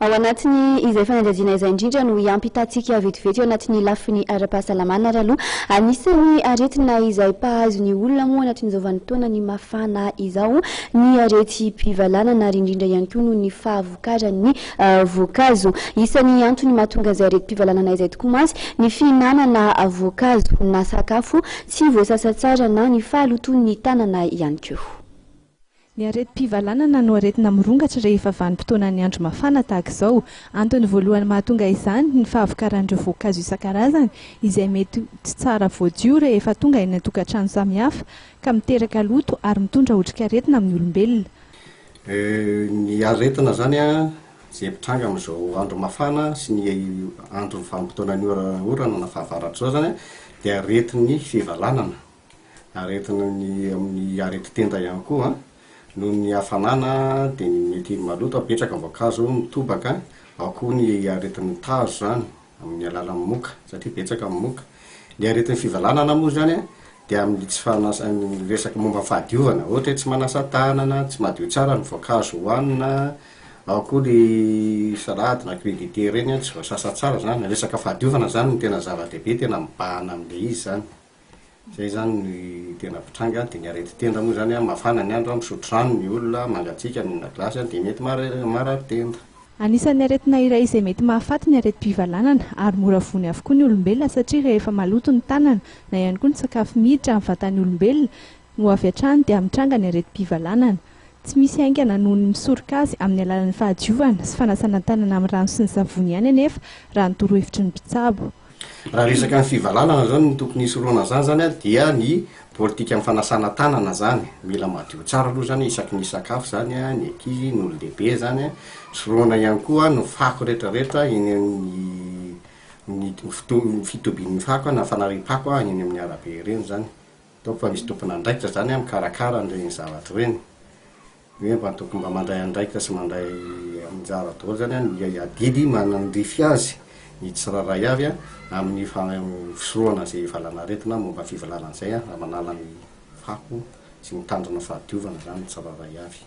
Ao anatin'ny izay fanadihadiana izay indrindra no hiampy tatsika vetivety eo anatin'ny lafiny ara-pahasalamana ary aloha. Anisan'ny aretina izay mpahazo ny olona moa anatin'izao vanin-taonany mafana izao ny aretim-pivalanana ary indrindra ihany koa noho ny fahavokaran'ny voankazo. Isan'ny antony mahatonga izay aretim-pivalanana izay tokoa mantsy ny fihinanana voankazo na sakafo tsy voasasa tsara na ny fahalotoan'ny tanana ihany koa. Ny aretim-pivalanana no aretina mirongatra rehefa vanim-potoanan'ny andro mafana tahaka izao. Antony voalohany mahatonga izany ny fahavokaran'ireo voankazo isan-karazany izay mety tsy tsara voadio rehefa tonga eny an-tokantrano samihafa ka miteraka loto ary mitondra otrikaretina amin'ny olombelona. Ny aretina izany izay mitranga amin'izao andro mafana sy ny andro vanim-potoanan'ny orana na fahavaratr'izao izany dia aretin'ny fivalanana. Aretina ny amin'ny areti-tenda ihany koa, noho ny hafanana dia ny mety maloto apetraka ny voankazo mitobaka, ao koa ny aretin'ny tazo izany amin'ny alalan'ny moka satria betsaka ny moka. Ny aretin'ny fivalanana moa izany dia amin'ny tsy fanasa, ny resaka momba ny fahadiovana, ohatra hoe tsy manasa tanana, tsy madio tsara ny voankazo hohanina, ao koa ny salade na crudité ireny tsy voasasa tsara izany, resaka fahadiovana izany no tena zava-dehibe, tena mibahana amin'ilay izy izany. Izay izany no tena mpitranga. Dia ny aretin-tenda moa izany, mafana ny andro, misotro rano ny olona, mangatsiaka, mihinana glasy dia mety marary tenda. Anisan'ny aretina iray izay mety mahafaty ny aretim-pivalanana ary mora voany avokoa ny olombelona satria rehefa maloto ny tanana na ihany koa ny sakafo miditra amin'ny vatan'ny olombelona Ho avy hatrany dia mitranga ny aretim-pivalanana tsy misy haingana noho ny misoroka azy amin'ny alalan'ny fahadiovana sy fanasana tanana amin'ny rano sy ny savony ihany anefa raha ny torohevitry ny mpitsabo. Raha resaka ny fivalanana izany ny tokony hisorohana an'izany izany dia ny politika amin'ny fanasana tanana izany, mila madio tsara aloha izany isaky ny hisakafo izany ny ankizy, ny olon-dehibe izany, sorohana ihany koa ny fako rehetra rehetra eny amin'ny fitobian'ny fako na fanariam-pako eny amin'ny arabe ireny izany. Ataoko fa misy tompon'andraikitra izany an mikarakara an'ireny zavatra ireny. Ny hoe mba tokony mba mandray andraikitra sy mandray anjara daholo izany an ny adidy manandrify azy ny tsirairay avy an amin'ny fisorohana izay valanaretina momba fivolana an'izay an raha manala ny fako sy mitandrina fahadiovana izany ny tsirairay avy.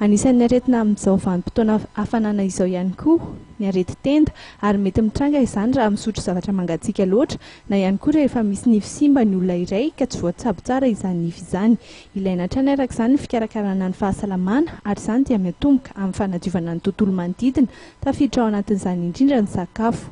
Anisan'ny aretina amin'izao vanim-potoana hafanana izao ihany koa ny areti-tenda ary mety mitranga izany raha misotro zavatra mangatsiaka loatra na ihany koa rehefa misy nify simba ny olona iray ka tsy voatsabo tsara izany nify izany. Ilaina hatrany araka izany ny fikarakarana ny fahasalamana ary izany dia miatomboka amin'ny fanadiovana ny tontolo manodidina, tafiditra ao anatin'izany indrindra ny sakafo.